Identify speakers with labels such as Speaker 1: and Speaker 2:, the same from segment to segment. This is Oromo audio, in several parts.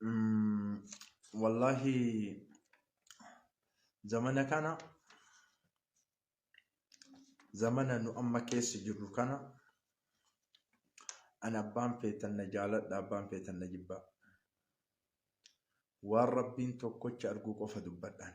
Speaker 1: Mm, Wallahi zamana kana zamana nu amma keessa jirru kana an abbaan feetan na jaaladha abbaan feetan na jibbaa waan rabbiin tokkocha arguu qofa dubbadhaan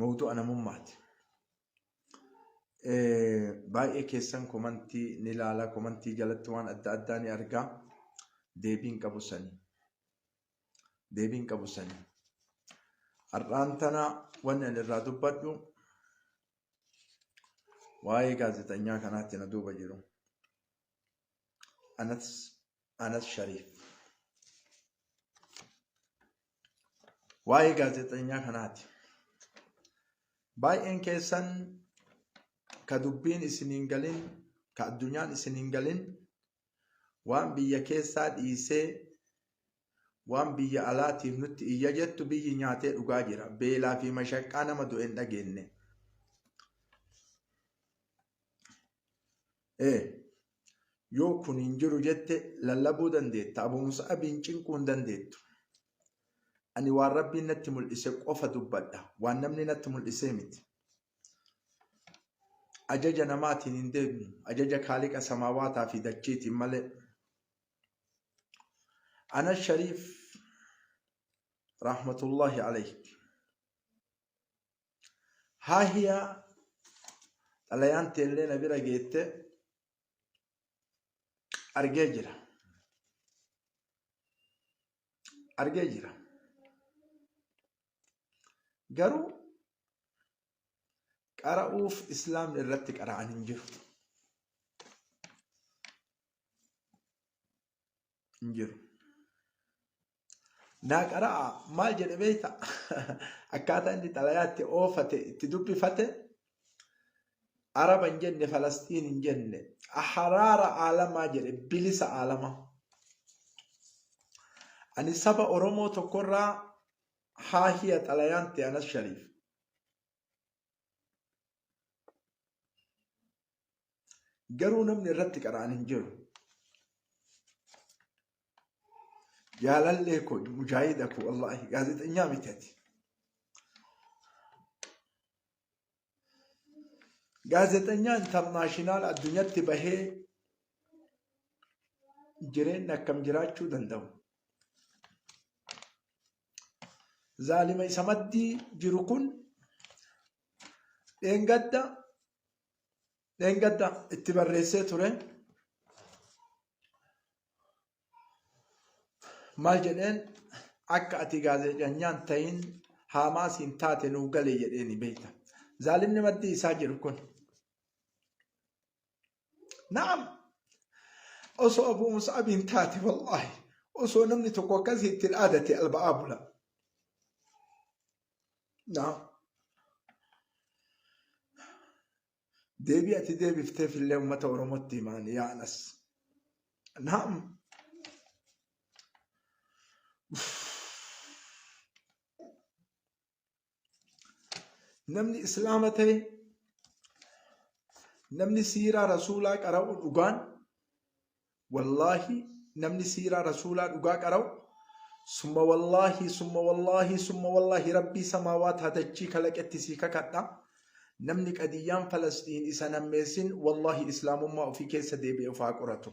Speaker 1: mawdu'a namummaati. Baay'ee keessan komantii ni ilaala, komantii jalatti waan adda addaa ni argaa. Deebiin qabu sani. Deebiin qabu sani. Har'aan tana wanni ani irraa dubbadhu waa'ee gaazexanyaa kanaatti na duuba jiru. Anas Anas Shariif. Waa'ee gaazexeenyaa kanaati. Baay'een keessan ka dubbiin isin hin galin, ka addunyaan isin hin galin, waan biyya keessaa dhiisee waan biyya alaatiif nutti iyya jettu biyyi nyaatee dhugaa jira. Beelaa fi mashaqqaa nama du'e hin dhageenye. Ee, yoo kun hin jiru jette lallabuu dandeetta, Abu Mus'ab hin cinquu hin dandeettu. Ani waan Rabbiin natti mul'ise qofa dubbadha, waan namni natti mul'isee miti. Ajaja namaatiin hin deemu, ajaja Kaaliqa samaawaataa fi dachiitiin malee. Anas Shariif rahmatullahi alayhi Haahiya xalayaan teellee na bira geette argee jira. Argee jira. Garuu qara'uuf islaamni irratti qara'an hin jiru. hin jiru. Naa qara'a maal jedhe beekta? Akkaataa inni xalayaa itti oofate itti dubbifate Araba hin jenne Falastiin hin jenne haraara aalamaa jedhe bilisa aalamaa. Ani saba Oromoo tokkorraa haa hiya xalayaan ta'e anas shariif. Garuu namni irratti qara'an hin jiru. Jaalallee koo mujaahida koo wallaahi gaazexanyaa miti ati. Gaazexanyaa intarnaashinaal addunyatti bahee jireenya akkam jiraachuu danda'u. Zaalima isa maddii jiru kun dheengadda dheengadda itti barreessee ture maal jedheen akka ati gaazexanyaan ta'iin haamaasiin taate nuu gale jedheeni beekta zaalimni maddii isaa jiru kun na'am osoo abu musaabiin taate wallaahi osoo namni tokko akkasii ittiin aadate alba'aa bula Naam. Deebii ati deebifteef illee uummata Oromootti himaan yaa Anas. Naam. Namni Islaama ta'e namni siiraa rasuulaa qara'u dhugaan wallaahi namni siiraa rasuulaa dhugaa qara'u summa wallaahi summa wallaahi summa wallaahi rabbii samaawaat hatachii kalaqetti sii kakadha namni qadiyyaan falasxiin isa nammeessin wallaahi islaamummaa ofii keessa deebi'e of haa qoratu.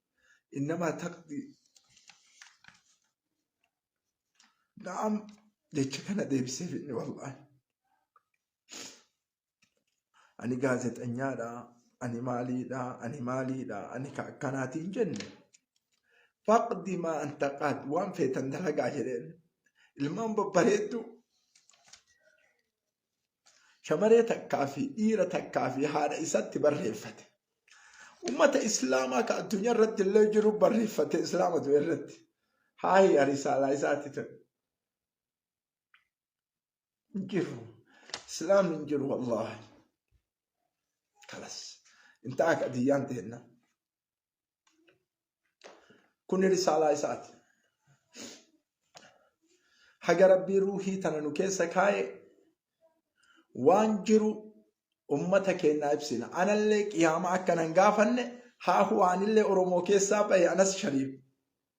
Speaker 1: innamaa taqdii na'am jecha kana deebiseef inni wallaahi ani gaazexanyaadha ani maaliidha ani maaliidha ani ka akkanaatiin jenne faqdi maa anta qaad waan feetan dalagaa jedheen ilmaan babbareedduu shamaree takkaa fi dhiira takkaa fi haadha isatti barreeffate. Ummata Islaamaa ka addunyaa irratti illee jiru barreeffate Islaama du'e irratti. Haahi arisaalaa isaatti ta'e. Hin jiru. Islaam hin jiru wallaahi. Kalas. Intaa qadiyyaan teenna. Kun risaalaa isaati. Haga rabbii ruuhii tana nu keessa kaa'e waan jiru ummata keennaa ibsina. Anallee qiyaama akkanan gaafanne haahu anillee Oromoo keessaa bahe anas shariif.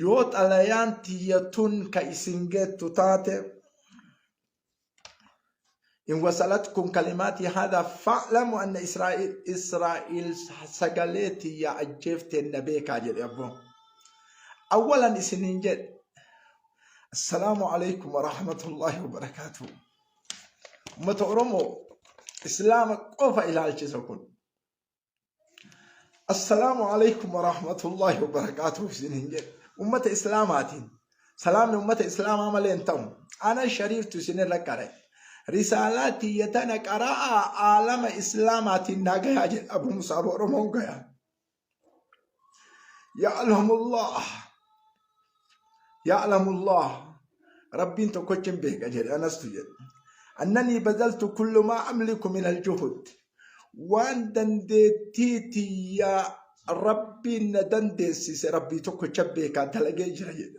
Speaker 1: Yoo xalayaan tiyya tun ka isin geettu taate in wasalatkum kalimaatii haadaa fa'lamu anna Israa'il Israa'il sagalee tiyya ajjeefteen na beekaa jedhe abboo. Awwalan isiniin jedhe Assalaamu alaikum wa rahmatullahi wa barakaatuhu. Ummata Oromoo Islaama qofa ilaalchisa kun. Assalaamu alaikum wa rahmatullahi wa barakaatuh isin hin jedhe. Ummata Islaamaatiin salaamni ummata Islaamaa malee hin ta'u. Ana shariiftu isin irra qare. Risaalaa tiyya tana qara'aa aalama Islaamaatiin naa gayaa jedha Abu Musaab Oromoon gayaa. Ya'lamullah. Ya'lamullah. Rabbiin tokkochi hin beeka jedhe anastu jedhe. Annanii bazaltu kullumaa amliku min aljuhud. Waan dandeettii tiyyaa rabbiin na dandeessise rabbii tokkocha beekaa dalagee jira jedhe.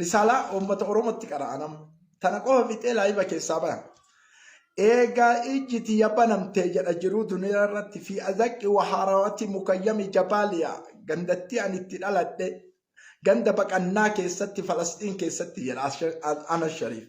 Speaker 1: Risaalaa uummata Oromootti qara'a nama. Tana qofa fixee laayiba keessaa baha. Eegaa ijji tiyya banamtee jedha jiruu duniyaa irratti fi azaqqi wahaaraawati mukayyami jabaaliya gandattii ani itti dhaladhe ganda baqannaa keessatti falasxiin keessatti jedha Anas Shariif.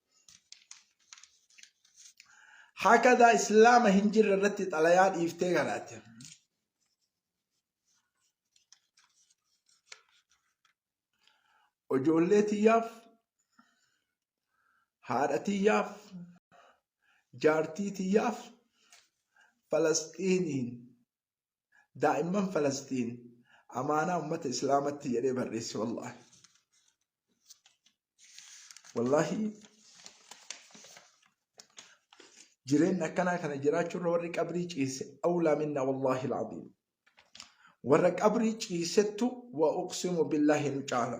Speaker 1: hakadaa islaama hin jirre irratti xalayaa dhiiftee kanaatti ijoollee tiyyaaf haadha tiyyaaf jaartii tiyyaaf falasxiiniin daa'imman falasxiin amaanaa ummata islaamatti jedhee barreesse wallaahi wallaahi jireenya akkanaa kana jiraachuurra warri qabrii ciise awlaa minna wallaahi laaziim warra qabrii ciisettu wa uqsimu billaahi nu caala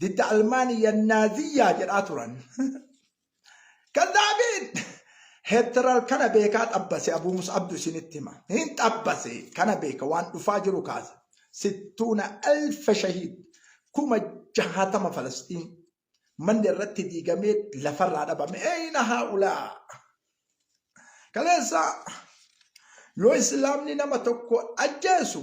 Speaker 1: didda Almaaniyya Naaziyyaa jedhaa turan. Kazzaabiin! Heetteral kana beekaa xabbase Abuu Mus'abdu isinitti hima. Hin xabbase kana beeka waan dhufaa jiru kaasa. Sittuuna alfa shahiid kuma jahatama Falasxiin manni irratti diigamee lafarraa dhabame. Eeyina haa ulaa! Kaleessa yoo islaamni nama tokko ajjeesu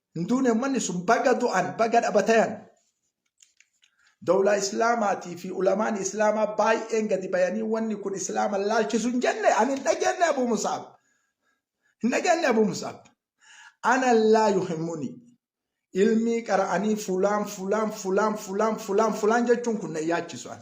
Speaker 1: hin duune ummanni sun baga du'an baga dhabatayan dawlaa islaamaatii fi ulamaan islaamaa baay'een gadi bayanii wanni kun islaama laalchisu hin jenne ani hin dhageenye abuu musaab hin dhageenye abuu musaab ana laa yuhimmuni ilmii qara'anii fulaan fulaan fulaan fulaan fulaan fulaan jechuun kun na yaachisu an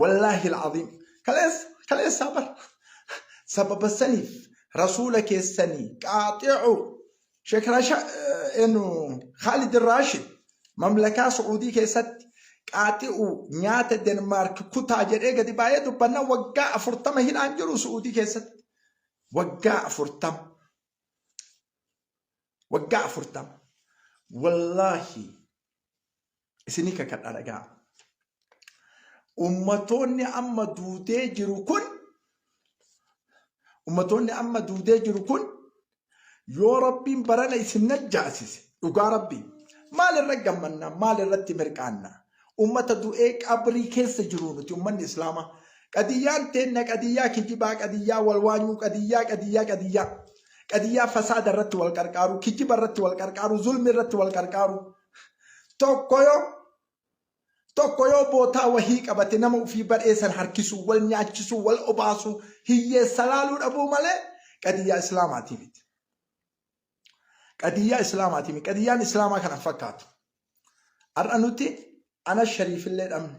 Speaker 1: Wallaahi al'aziim. Kaleessa kaleessaa bar. Sababa saniif rasuula keessanii qaaxi'u Sheek Rasha enu Khaalid Raashid mamlakaa Su'uudii keessatti qaaxi'u nyaata Denmaark kutaa jedhee gadi baay'ee dubbanna waggaa afurtama hidhaan jiru Su'uudii keessatti. Waggaa afurtama. Waggaa afurtama. Wallaahi isinii kakadha dhagaa ummatoonni amma duudee jiru kun ummatoonni amma duudee jiru kun yoo rabbiin barana isin najjaasise dhugaa rabbii maal irra gammanna maal irratti mirqaanna ummata du'ee qabrii keessa jiru nuti ummanni islaamaa qadiyyaan teenna qadiyyaa kijibaa qadiyyaa walwaanyuu qadiyyaa qadiyyaa qadiyyaa Qadiyyaa fasaada irratti wal qarqaaruu, kijiba irratti wal qarqaaruu, zulmi irratti wal qarqaaruu. Tokko yoo tokko yoo bootaa wahii qabate nama ufii badhee san harkisuu, wal nyaachisuu, wal obaasuu, hiyyeessa laaluu dhabuu malee qadiyyaa islaamaatii miti. Qadiyyaa islaamaatii miti. Qadiyyaan islaamaa kana fakkaatu. Har'a nuti ana shariifillee dhabne.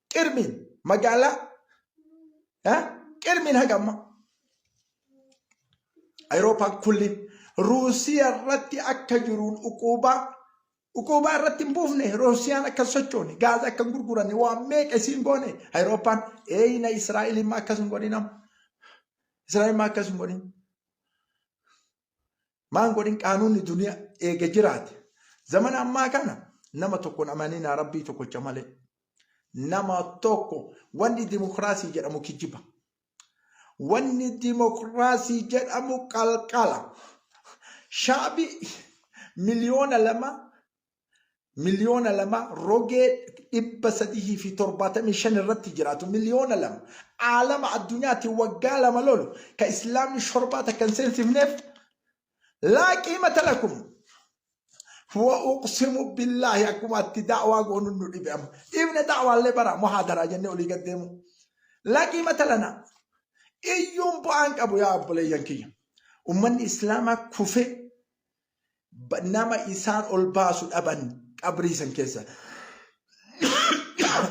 Speaker 1: Qirmiin magaalaa eh, qirmiin haga ammaa Ayirooppaan kulliin Ruusiyaa irratti akka jiruun uquubaa uquubaa irratti hin buufne Ruusiyaan akka hin sochoone gaaza akka hin gurguranne waan meeqa isiin goone Ayirooppaan eeyina Israa'el immoo akkas hin godhinam Israa'el immoo akkas hin godhin maan godhin qaanuunni duniya eega jiraate zamana ammaa kana nama tokkon amaninaa rabbii tokkocha malee nama tokko wanni dimokiraasii jedhamu kijiba wanni dimokiraasii jedhamu qalqala shaabi miliyoona lama miliyoona lama rogee 375 irratti jiraatu miliyoona lama aalama addunyaatti waggaa lama lolu ka islaamni shorbaa takka hin seensifneef laa qiimata lakum wa uqsimu billaahi akkuma atti da'waa goonu nu dhibe amma dhiifne da'waallee bara muhaadaraa jennee olii gad deemu laa qiimata lana iyyuun bu'aan qabu yaa obboleeyyan kiyya ummanni islaamaa kufee nama isaan ol baasu dhaban qabrii san keessa.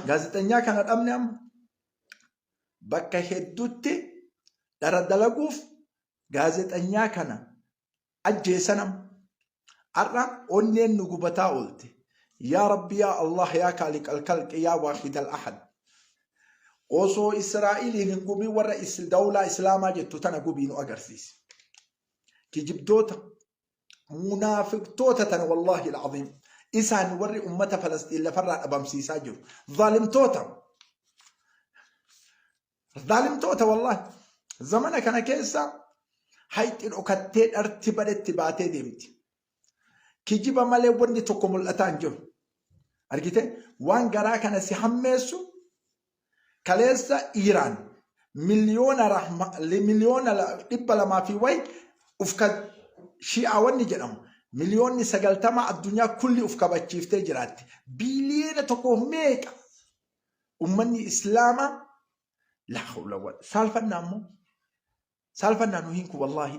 Speaker 1: Gaazexanyaa kana dhabne amma bakka hedduutti dhara dalaguuf gaazexanyaa kana ajjeesan amma. Har'a onneen nu gubataa oolte. Yaa Rabbi yaa Allah yaa Kaaliq al-Kalqi yaa Waahid al-Ahad. Osoo Israa'eliin hin gubiin warra dawlaa Islaamaa jettu tana gubii nu agarsiise. kijibdoota munaafiqtoota tana wallaahi alcaziim isaan warri ummata falasxiin lafarraa dhabamsiisaa jiru zaalimtoota zaalimtoota wallaahi zamana kana keessa hayxi dhokattee dharti badhetti baatee deemti Kijiba malee wanni tokko mul'ataa hin jiru. Argite waan garaa kana si hammeessu kaleessa Iiraan miliyoona rahma- li- miliyoona la- dhibba lamaa fi wayi uf ka shi'aa wanni jedhamu miliyoonni sagaltama addunyaa kulli uf kabachiiftee jiraatti. Biiliyoona tokkoof meeqa ummanni islaamaa laa hawla wala saalfannaa immoo saalfannaa nu hiinku wallaahi.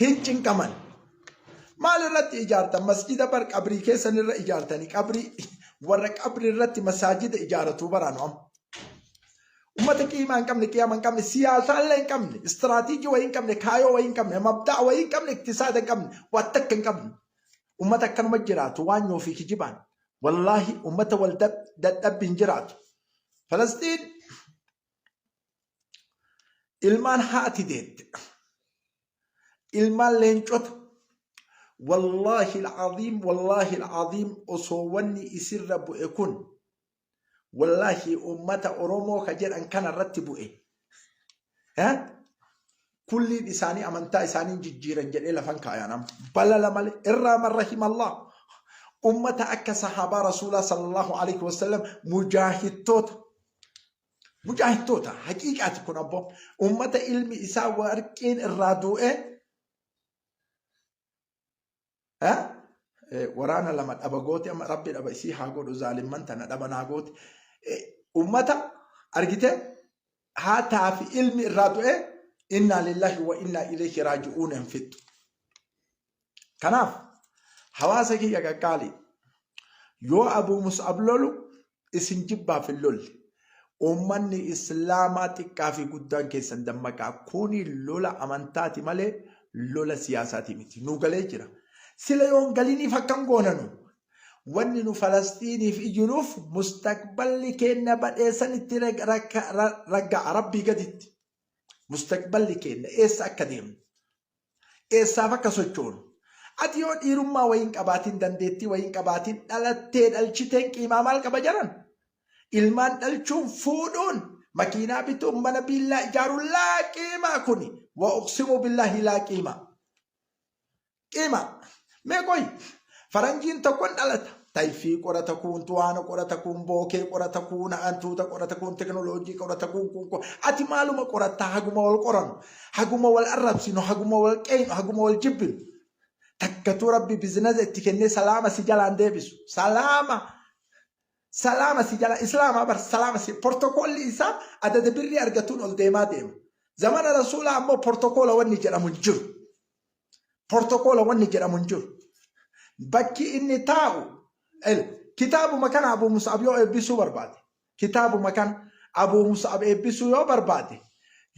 Speaker 1: hin cinqaman. Maal irratti ijaartan? Masjida bar qabrii keessan irra ijaartanii qabrii warra qabrii irratti masaajida ijaaratuu baraanu amma. Ummata qiimaa hin qabne, qiyaama hin qabne, siyaasaa illee hin qabne, istiraatiijii wayii hin qabne, kaayoo wayii hin qabne, mabda'a wayii hin qabne, iktisaada hin qabne, waan takka hin qabne. Ummata akkanuma jiraatu waan nyoo fi kijibaan. Wallaahi ummata wal dadhabbi hin jiraatu. Falastiin ilmaan haati deette ilmaan leencota wallaahi alcaziim wallaahi alcaziim osoo wanni isirra bu'e kun wallaahi ummata oromoo ka jedhan kana irratti bu'e kulliin isaanii amantaa isaanii hin jijjiiran jedhee lafan kaayaan amma balala malee irraa marra himallah ummata akka sahaabaa rasuulaa sallallahu alaihi wasallam mujaahittoota mujaahittoota haqiiqaati kun abboo ummata ilmi isaa warqiin irraa du'ee Eh? Eh, waraana lama dhaba gooti amma rabbi dhaba isii haa godhu zaalimman tana dhaba naa gooti Eh, ummata argite haataa fi ilmi irraa du'e innaa lillahi wa innaa ilayhi raaji'uun hin fixxu kanaaf hawaasa kiyya qaqqaali yoo abuu mus'ab lolu isin jibbaaf hin lolle. Uummanni Islaamaa xiqqaa fi guddaan keessan dammaqaa. Kuni lola amantaati malee lola siyaasaati miti. Nu galee jira. Sila yoon galiniif akkam goona nu? Wanni nu Falasxiiniif iyyinuuf mustaqballi keenna badhee sanitti ragga'a Rabbii gaditti. Mustaqballi keenna eessa akka deemnu? Eessaaf akka sochoonu. Ati yoo dhiirummaa wayii hin qabaatiin, dandeettii wayii hin qabaatiin dhalattee dhalchiteen qiimaa maal qaba jaran? Ilmaan dhalchuun, fuudhuun, makiinaa bituun, mana biillaa ijaaruun laa qiimaa kuni. Wa uqsimu billaahi laa qiimaa. Qiimaa. Mee qoyi faranjiin tokkon dhalata. Tayfii qorata kuun tuwaana qorata kuun bookee qorata kuun hantuuta qorata kuun teknooloojii qorata kuun kuun kuun ati maaluma qoratta haguma wal qoranu haguma wal arrabsinu haguma wal qeeynu haguma wal jibbinu takkatuu rabbi bizinasa itti kennee salaama si jalaan deebisu salaama salaama si jala islaama bar salaama si portokoolli isaa adada birrii argatuun ol deemaa deema zamana rasuulaa ammoo portokoola wanni jedhamu hin jiru. Portokoola wanni jedhamu hin jiru. Bakki inni taa'u kitaabuma kana Abuu Mus'ab yoo eebbisuu barbaade kitaabuma kana Abuu Mus'ab eebbisuu yoo barbaade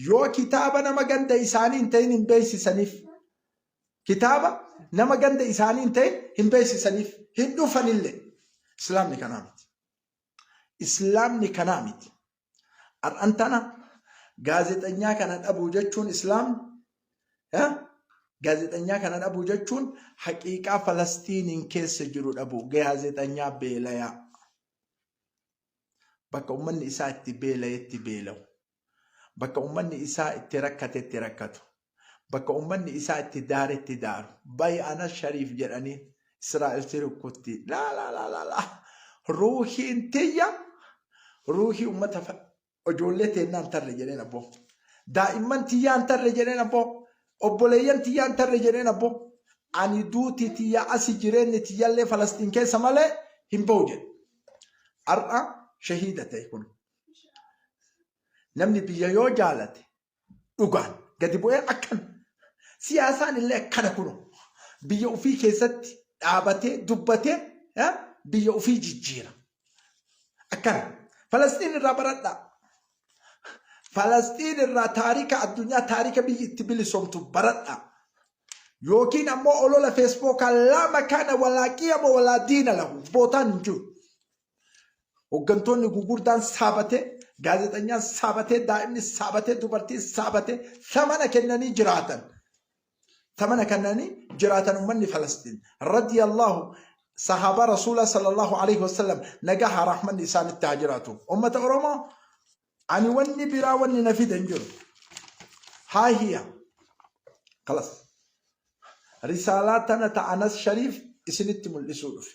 Speaker 1: yoo kitaaba nama ganda isaanii hin ta'in hin beeksisaniif. Kitaaba nama ganda isaanii hin ta'in hin beeksisaniif hin dhufanillee. Islaamni kanaa miti. Islaamni kanaa miti. Har'an tana gaazexanyaa kana dhabuu jechuun Islaam gaazexanyaa kana dhabuu jechuun haqiiqaa Falastiiniin keessa jiru dhabuu gaazexanyaa beelayaa bakka ummanni isaa itti beelayetti beelawu bakka ummanni isaa itti rakkatetti rakkatu Bakka ummanni isaa itti daaretti daaru. Bayi anas shariif jedhaniin. Israa'el si rukkutti. Laa laa laa laa laa. Ruuhiin tiyya ruuhii ummata fa- ijoollee teennaa hin tarre jedheen abboo. Daa'imman tiyyaa hin tarre jedheen abboo. Obboleeyyan tiyyaa hin tarre jedheen abboo. Ani duuti tiyya asi jireenyi tiyyallee Falasxiin keessa malee hin bahu jedhe. Har'a shahiida ta'e kun. Namni biyya yoo jaalate dhugaan gadi bu'ee akkan siyaasaan illee akkana kuno biyya ofii keessatti dhaabatee dubbatee eh, biyya ofii jijjiira akkana falasxiin irraa baradhaa falasxiin irraa taarika addunyaa taarika biyyi itti bilisomtu baradhaa yookiin ammoo olola feesbookaa lama kana walaa qiyama walaa diina lahu bootaan hin jiru Hoggantoonni gugurdaan saabatee, gaazexanyaan saabatee, daa'imni saabatee, dubartiin saabatee samana kennanii jiraatan. Samana kennanii jiraatan ummanni Falastiin. Radiyallahu sahaabaa Rasuulaa sallallahu alaihi wasallam nagaa haa rahmanni isaanitti haa jiraatu. Ummata Oromoo ani wanni biraa wanni na fide hin jiru. Haa hiya. Kalas. Risaalaa tana ta Anas Shariif isinitti mul'isuu dhufe.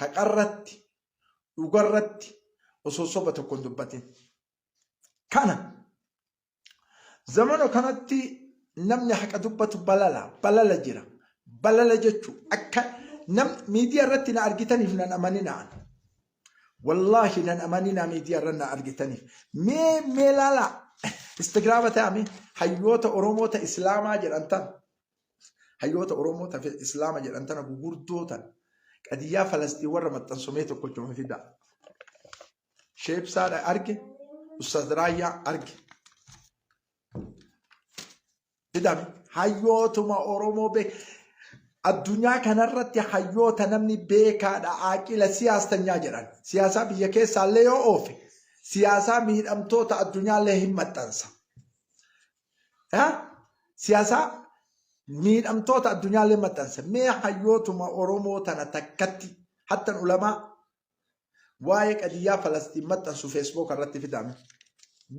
Speaker 1: haqarratti dhugarratti osoo soba tokko hin dubbatin. Kana zamana kanatti namni haqa dubbatu balala balala jira. Balala jechuun akka nam miidiyaa irratti na argitaniif nan amaninaan. Wallaahi nan amaninaa miidiyaa irra na argitaniif. Mee mee laalaa Instagiraama ta'ame hayyoota Oromoota Islaamaa jedhan tan hayyoota Oromoo tafe Islaama jedhan tana gugurdoo tan qadiyyaa Falasxiin warra maxxansomee tokkocha of fidaa. Sheebsaadha arge, Ustaz Raayyaa arge. Fidame hayyootuma Oromoo be addunyaa kanarratti hayyoota namni beekaadha aaqila siyaastanyaa jedhan. Siyaasaa biyya keessaallee yoo oofe siyaasaa miidhamtoota addunyaallee hin maxxansa. siyaasaa miidhamtoota addunyaallee maxxanse mee hayyootuma Oromoo tana takkatti hattan ulamaa waa'ee qadiyyaa Falastiin maxxansu feesbook irratti fidaame.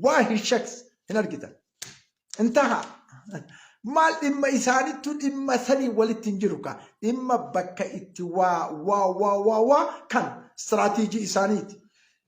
Speaker 1: Waa hin shaks hin argitan. Intaha maal dhimma isaanittu dhimma sanii walitti hin jiru kaa dhimma bakka itti waa waa waa waa waa kan istiraatiijii isaaniiti.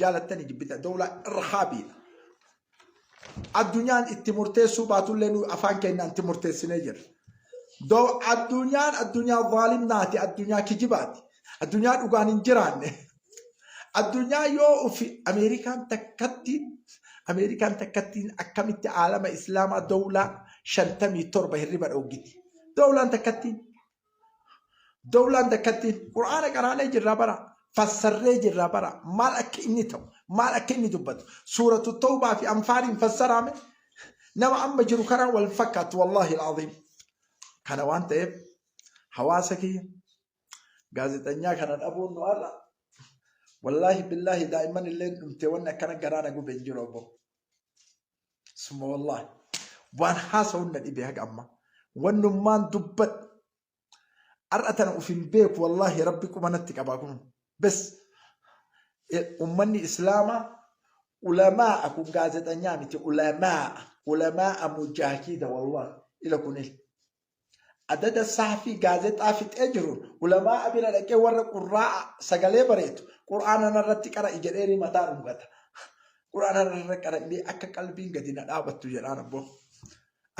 Speaker 1: jaalattanii jibbitan dowlaa irhaabiidha. Addunyaan itti murteessuu baatullee nu afaan keenyaan itti murteessinee jirra. Dow addunyaan addunyaa vaalimnaati, addunyaa kijibaati, addunyaa dhugaan hin jiraanne. Addunyaa yoo ufi Ameerikaan takkatti Ameerikaan takkattiin akkamitti aalama Islaamaa dowlaa shantamii torba hirriba dhooggiti. Dowlaan takkattiin Dawlaan takkattiin Qur'aana qaraanee jirraa bara fassarree jirraa bara maal akka inni ta'u maal akka inni dubbatu suuratu tawbaa fi anfaaliin fassaraame nama amma jiru kanaan wal fakkaatu wallaahi al'aziim kana waan ta'eef hawaasa kiyya gaazexanyaa kana dhabuun nu har'a wallaahi billaahi daa'imman illee dhumtee wanni akkana garaana gube hin jiru obbo Summa wallaahi waan haasa'uun na dhibee haga ammaa. Wannummaan dubbadhu. Har'a tana of hin beeku wallaahi rabbi quba natti qabaa kun. Bes ummanni islaamaa ulamaa kun gaazexanyaa miti ulamaa ulamaa mujaahiida wallaahi ila kun il. Adada sahfii gaazexaa fixee jiruun ulamaa'a bira dhaqee warra qurraa'a sagalee bareetu qur'aana narratti qara'i jedheenii mataa dhungata. Qur'aana narra qara'inii akka qalbiin gadi na dhaabattu jedhaan abboo.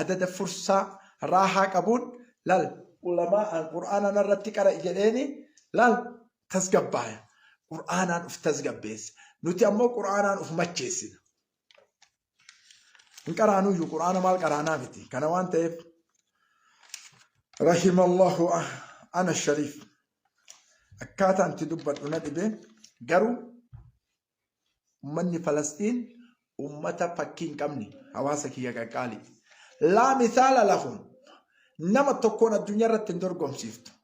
Speaker 1: Adada fursaa raahaa qabuun lal ulamaa'aan qur'aana narratti qara'i jedheenii lal tasgabbaaya. Qur'aanaan uf tasgabbeessa. Nuti ammoo qur'aanaan uf macheessina. hin qaraanuyyuu quraana maal qaraanaa miti kana waan ta'eef rahimallahu ana shariif akkaataan itti dubbadhu na dhibe garuu ummanni falastiin ummata fakkii hin qabne hawaasa kiyya qaqqaali laa misaala lahum nama tokkoon addunyaa irratti hin dorgomsiiftu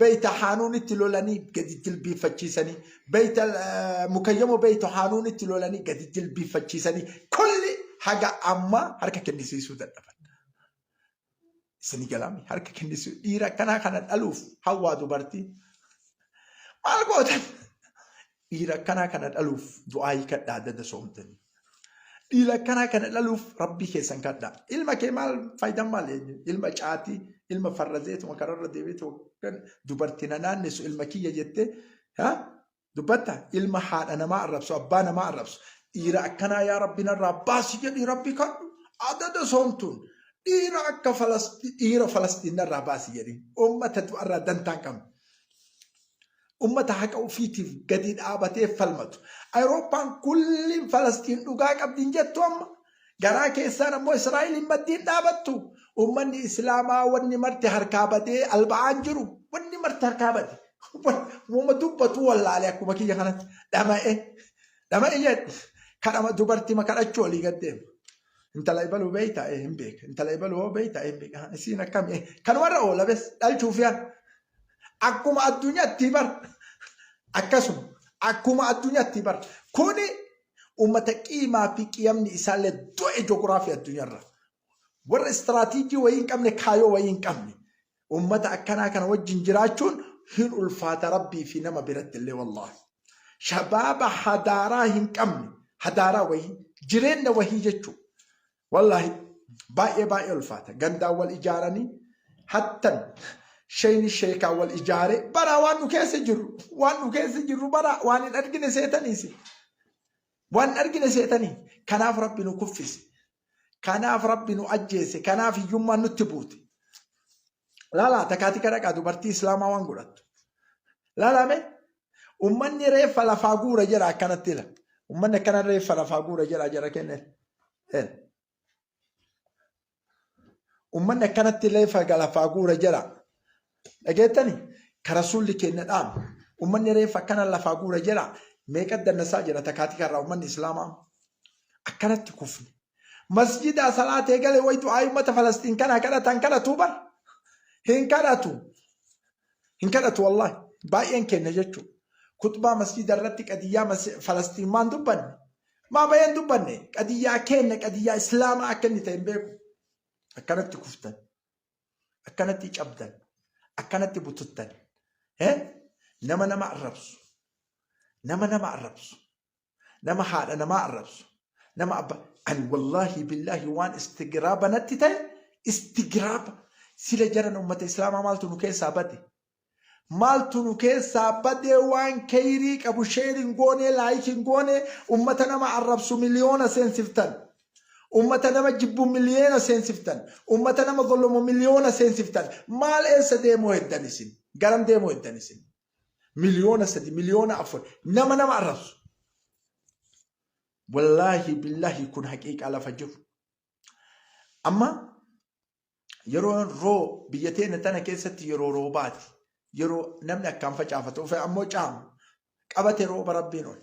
Speaker 1: Beeyta Haanuunitti lolanii gadi jilbiiffachiisanii, Beeyta Mukayyamo Beeyta Haanuunitti lolanii gadi jilbiiffachiisanii kulli haga ammaa harka kennisiisuu dadhaban. Isin galaami harka kennisiisuu dhiira akkanaa kana dhaluuf hawwaa dubartii. Maal gootan? Dhiira akkanaa kana dhaluuf du'aayii kadhaa dada soomtanii. Dhiira akkanaa kana dhaluuf rabbii keessan kadhaa. Ilma kee maal faayidaan maal eenyu? Ilma caatii, ilma farrazeetuma kararra deebiitu kan dubartii na naannessu ilma kiyya jettee ha? dubbatta ilma haadha namaa arrabsu abbaa namaa arrabsu dhiira akkanaa yaa rabbi narraa baasi jedhii rabbi kadhu adada soomtuun dhiira akka falastii dhiira falastiin narraa baasi jedhii uummata du'arraa dantaan qabna. Ummata haqa ufiitiif gadi dhaabatee falmatu. Ayirooppaan kulliin Falasxiin dhugaa qabdi hin jettu amma? Garaa keessaan ammoo Israa'eliin maddii hin dhaabattu? Ummanni Islaamaa wanni marti harkaa badee alba'aan jiru. Wanni marti harkaa bade. Woma dubbatu wallaale akkuma kiyya kanatti. Dhama'e. Dhama'e jedhe. Kadhama dubartima kadhachuu olii gad deema. Intala ibaluu beeyta ee hin beeka. Intala ibaluu hoo beeyta ee hin beeka. Isiin akkami ee. Kanumarra oola bes dhalchuuf yaa. Akkuma addunyatti bar akkasuma akkuma addunyatti bar kuni ummata qiimaa fi qiyamni isaallee du'e jogiraafii addunyarra warra istiraatiijii wayii hin qabne kaayoo wayii hin qabne ummata akkanaa kana wajjin jiraachuun hin ulfaata rabbii fi nama biratti illee wallaahi shabaaba hadaaraa hin qabne hadaaraa wayii jireenya wayii jechuudha. Wallahi baay'ee baay'ee ulfaata gandaan wal ijaaranii hattan sheyni sheekaa wal ijaaree baraa waan nu keessa jirru waan nu keessa jirru baraa waan hin argine seetaniisi waan hin argine seetanii kanaaf rabbi nu kuffise kanaaf rabbi nu ajjeese kanaaf hiyyummaan nutti buute Laalaa takaatii kadhaqaa dubartii islaamaa waan godhattu. Laalaa mee ummanni reeffa lafaa guura jedha akkanatti ila. Ummanni akkana reeffa lafaa guura jedha jara kenne. Ummanni akkanatti reeffa lafaa guura jedha. Dhageettani ka rasuulli keenya dhaamu. Ummanni reeffa akkana lafaa guura jedha. Meeqa dandasaa jira takaatii kanarraa ummanni islaamaa akkanatti kufne. Masjidaa salaatee gale way du'aa'ii ummata Falasxiin kanaa kadhata hin kadhatu bar. Hin kadhatu. Hin kadhatu wallahi. Baay'een kenna jechuu. Kutbaa masjida irratti qadiyyaa mas- Falasxiin maan dubbanne. Maa bayeen dubbanne. Qadiyyaa kenna qadiyyaa Islaamaa akka inni ta'e hin beeku. Akkanatti kuftan. Akkanatti cabdan. Akkanatti bututtan. Eh? Nama nama arrabsu. Nama nama arrabsu. nama haadha namaa arrabsu nama abba ani wallaahi billaahi waan istigiraaba natti ta'e istigiraaba sila jaran ummata islaamaa maaltu nu keessaa bade maaltu nu keessaa badee waan keeyrii qabu sheeriin goonee laayikiin goonee ummata nama arrabsu miliyoona seensiftan ummata nama jibbu miliyoona seensiftan ummata nama gollomu miliyoona seensiftan maal eessa deemuu heddan isin garam deemuu heddan isin Miliyoona sadi, miliyoona afur nama nama arrabsu. Wallaahi billaahi kun haqiiqaa lafa jiru. Amma yeroo roo biyya teenya tana keessatti yeroo roobaati. Yeroo namni akkaan facaafatu ofe ammoo caamu qabate rooba rabbiin oli.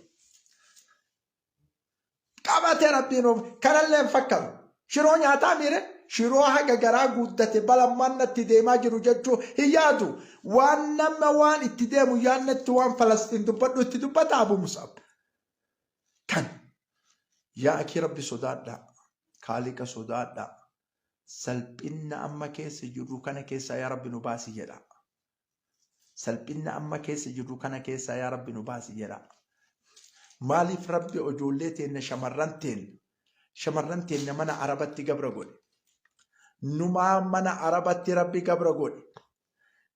Speaker 1: Qabatee rabbiin uume. Kanallee hin fakkatu. Shiroo nyaataa miire shiroo haga garaa guuddate balammaan natti deemaa jiru jechuu hin yaadu. Waan nama waan itti deemu yaannetti waan Falasxiin dubbadhu itti dubbata Abu Mus'ab. Kan yaa akii rabbi sodaadhaa. Kaaliqa sodaadhaa. Salphinna amma keessa jirru kana keessaa yaa rabbi nu baasi jedhaa. Salphinna amma keessa jirru kana keessaa yaa Rabbi nu baasi jedhaa. Maaliif Rabbi ijoollee teenna shamarran teenna shamarran teenna mana Arabatti gabra godhe. Numaa mana Arabatti Rabbi gabra godhe.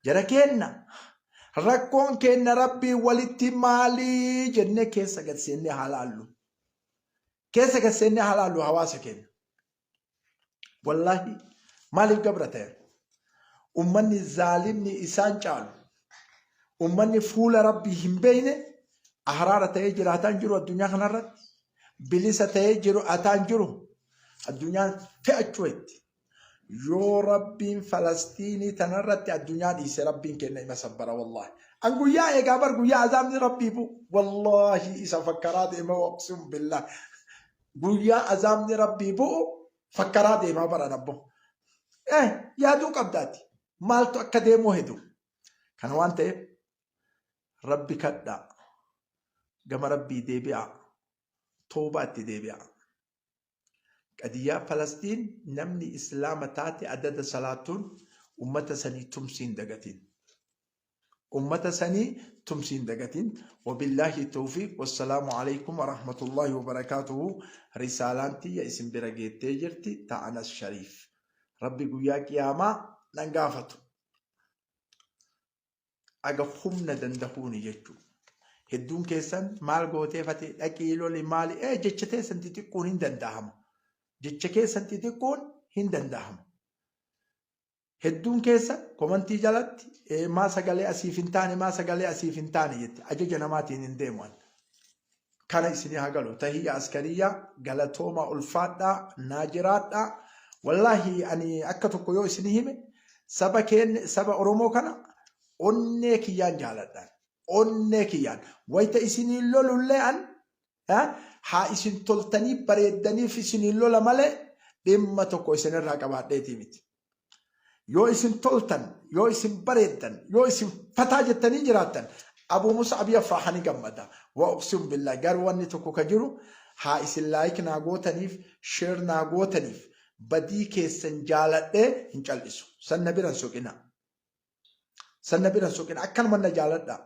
Speaker 1: Jara keenna rakkoon keenna Rabbii walitti maalii jennee keessa gad seennee haa laallu. Keessa gad seennee haa laallu hawaasa keenna. Wallaahi maaliif gabra ta'e? Ummanni zaalimni isaan caalu. Ummanni fuula rabbii hin beeyne ahraara ta'ee jiraataan jiru addunyaa kanarratti. Bilisa ta'ee jiru ataan jiru addunyaan fe'achuu itti. Yoo rabbiin Falastiinii tanarratti addunyaa dhiise rabbiin kenna ima sabbara wallaahi. An guyyaa eegaa bar guyyaa azaabni rabbii bu wallaahi isa fakkaraa deema waqsuun billaa. Guyyaa azaabni Rabbii bu'u fakkaraa deemaa baran abbo. Eh, yaaduu qabdaati. Maaltu akka deemuu hedu. Kana waan ta'eef Rabbi kadhaa. Gama Rabbii deebi'aa. Toobaa itti deebi'aa. Qadiyyaa Falastiin namni Islaama taate adada salaatuun ummata sanii tumsiin dagatiin. Ummata sanii tumsi hin dagatin. Wabillaahi towfiiq wassalaamu aleykum warahmatullaahi wabarakaatuhu Risaalaan tiyya isin bira geettee jirti ta Anas Shariif. Rabbi guyyaa qiyaamaa nan gaafatu. Aga humna dandahuuni jechuu. Hedduun keessan maal gootee fatee dhaqii loli maali ee jecha teessan xixiqqoon hin dandahama. Jecha keessan xixiqqoon hin dandahama. Hedduun keessa komantii jalatti eh, maa sagalee asiif hin taane maa sagalee asiif hin taane jette ajaja namaatiin hin deemu an. Kana isinii haa galu tahiyya askariyyaa galatoomaa ulfaadhaa naa jiraadhaa wallaahi ani akka tokko yoo isinii hime saba keenya saba Oromoo kana onnee kiyyaan jaaladhaan onnee kiyyaan wayita isinii lolullee an Yaa haa isin toltanii bareeddaniif isiniin lola malee dhimma tokko isinirraa qabaadheetii miti. Yoo isin toltan, yoo isin bareeddan, yoo isin fataa jettanii jiraattan Abuu Mus'ab Yafraha ni gammada. Wa uqsimu billaah garuu wanni tokko ka jiru haa isin like naa gootaniif, share naa gootaniif badii keessan jaaladhee hin cal'isu. San na bira hin soqinaa. San na bira hin soqinaa. Akkanuman na jaaladhaa.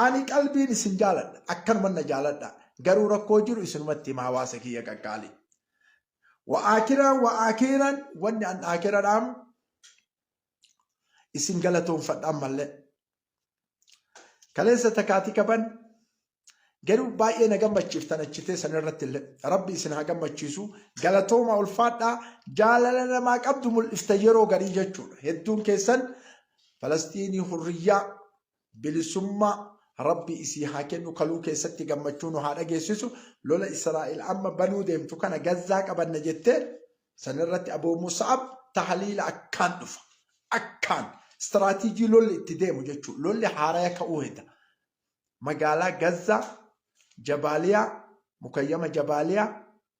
Speaker 1: Ani qalbiin isin jaaladha akkanuman na jaaladha garuu rakkoo jiru isinumatti hima hawaasa kiyya qaqqaali. Wa aakiraan wa aakiiran wanni an aakira dhaamu isin galatoonfadha ammallee. Kaleessa takaatii kaban garuu baay'ee na gammachiiftan achi teessan irratti illee rabbi isin haa gammachiisu galatooma ulfaadhaa jaalala namaa qabdu mul'ifta yeroo garii jechuudha hedduun keessan Falastiinii hurriyyaa, bilisummaa, Rabbi isii haa kennu kaluu keessatti gammachuu nu haa dhageessisu lola Israa'el amma banuu deemtu kana Gazzaa qabanna jettee sanirratti Abuu Musa'ab tahliila akkaan dhufa akkaan istiraatiijii lolli itti deemu jechuu lolli haaraya ka'uu heda magaalaa Gazzaa Jabaaliyaa mukayyama Jabaaliyaa